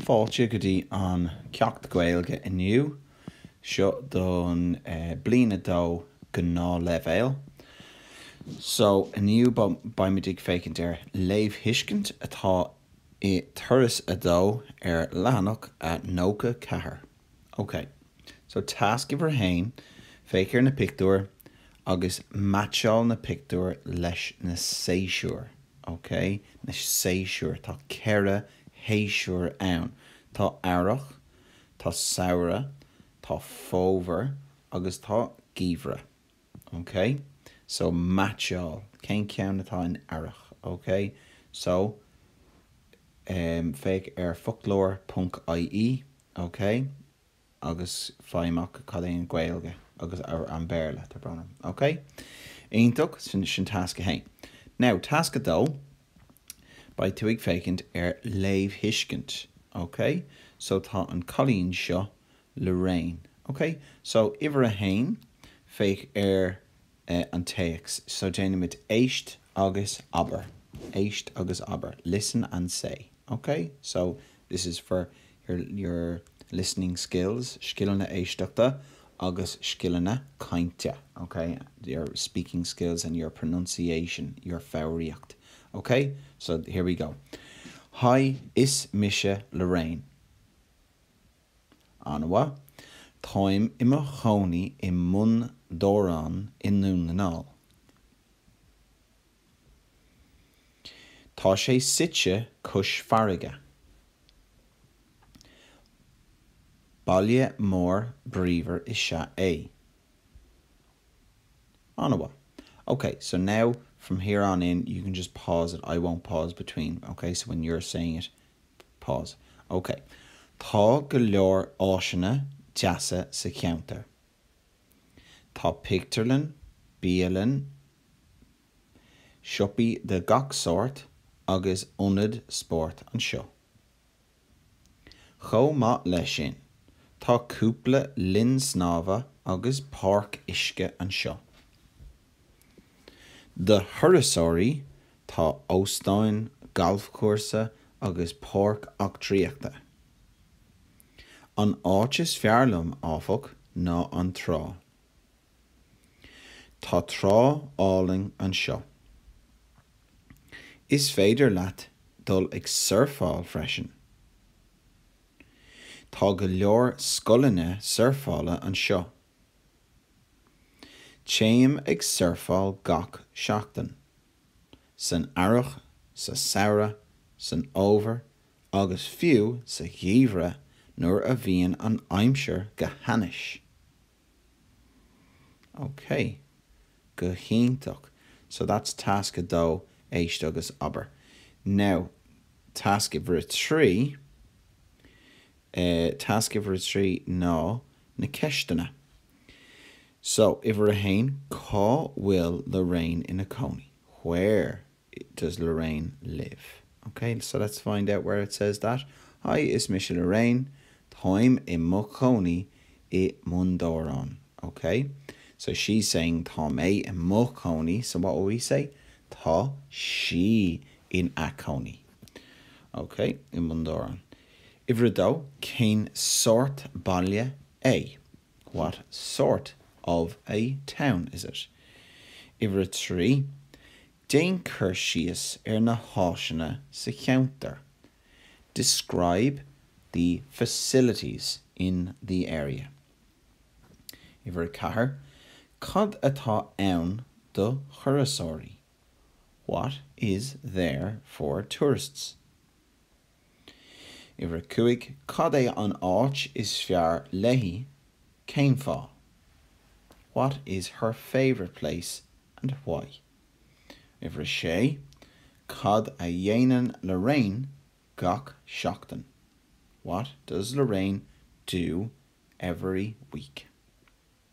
Fáilte go dtí an Ceacht Gaeilge inniu. Seo don bliain a dó gnáthleibhéal. So, inniu beimid ag féachaint ar léamhthuiscint atá i Turas a Dó ar leathanach a 94. Ok. So tasc uimhir a haon, féach ar na pictiúir agus meaitseáil na pictiúir leis na séasúir. Ok. Na séasúir. Tá ceithre shéasúr ann. Tá Earrach, tá Samhradh, tá Fómhar agus tá Geimhreadh. Ok. So meaitseáil. Cén ceann atá in Earrach? Ok. So, féach ar foclóir.ie OK, agus faigh amach cad é an Ghaeilge agus an Béarla atá orthu. OK? Iontach, sin tasc a haon. Now, tasc a dó, beidh tú ag féachaint ar léamhthuiscint. OK? So tá an cailín seo, Lorraine. OK? So uimhir a haon, féach ar an téacs so déanaimid éist agus abair, éist agus abair, listen and say, ok? So, this is for your listening skills, scileanna éisteachta agus scileanna cainte, ok? Your speaking skills and your pronunciation, your foghraíocht, ok? So, here we go. Haigh, is mise Lorraine. An-mhaith. Táim i mo chónaí i mBun Dobhráin i nDún na nGall. Tá sé suite cois farraige. Baile mór bríomhar is ea é. An-mhaith. Ok, so now from here on in you can just pause it, I won't pause between, ok, so when you're saying it Pause, OK. Tá go leor áiseanna deasa sa cheantar. Tá pictiúrlann, bialann, siopaí de gach sórt agus ionad spóirt anseo. Chomh maith leis sin, tá cúpla linn snámha agus páirc uisce anseo. Do thurasóirí, tá óstáin, galfchúrsa agus páirc eachtraíochta. An áit is fearr liom, áfach, ná an trá. Tá trá álainn anseo. Is féidir leat dul ag surfáil freisin. Tá go leor scoileanna surfála anseo. Téim ag surfáil gach seachtain. San earrach, sa samhradh, san fhómhar agus fiú sa gheimhreadh nuair a bhíonn an aimsir go hainnis. Ok. Go hiontach. So that's tasc 2, Éist agus Abair. Now, tasc uimhir 3. e, Tasc uimhir a trí ná na ceisteanna so, uimhir a haon, cá bhfuil Lorraine ina cónaí? Where does Lorraine live? Ok, so let's find out where it says that. Hi, is mise Lorraine. Táim i mo chónaí i mBun Dórán. Ok, so she's saying tá mé i mo chónaí, so what will we say? Tá sí ina cónaí. Ok, i mBun Dobhráin. Uimhir a dó, cén sórt baile é? What sort of a town is it? Uimhir a trí, déan cur síos ar na háiseanna sa cheantar. Describe the facilities in the area. Uimhir a ceathair, cad atá ann do thurasóirí? What is there for tourists? Uimhir 5, Cad é an áit is fearr léi? Cén fáth? What is her favourite place and why? Uimhir 6, Cad a dhéanann Lorraine gach seachtain? What does Lorraine do every week?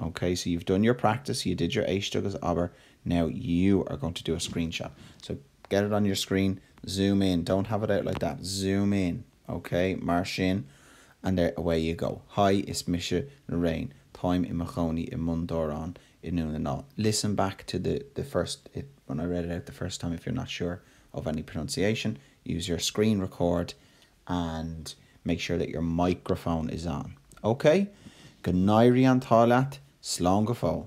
OK, so you've done your practice, you did your éist agus abair, now you are going to do a screenshot. So get it on your screen, zoom in, don't have it out like that, zoom in, OK, mar sin, and there, away you go. Hi, is mise Lorraine, táim i mo chónaí i mBun Dobhráin i nDún na nGall. Listen back to the the first, it, when I read it out the first time if you're not sure of any pronunciation, use your screen record and make sure that your microphone is on. Okay? Go n-éirí an t-ádh leat, slán go fóill!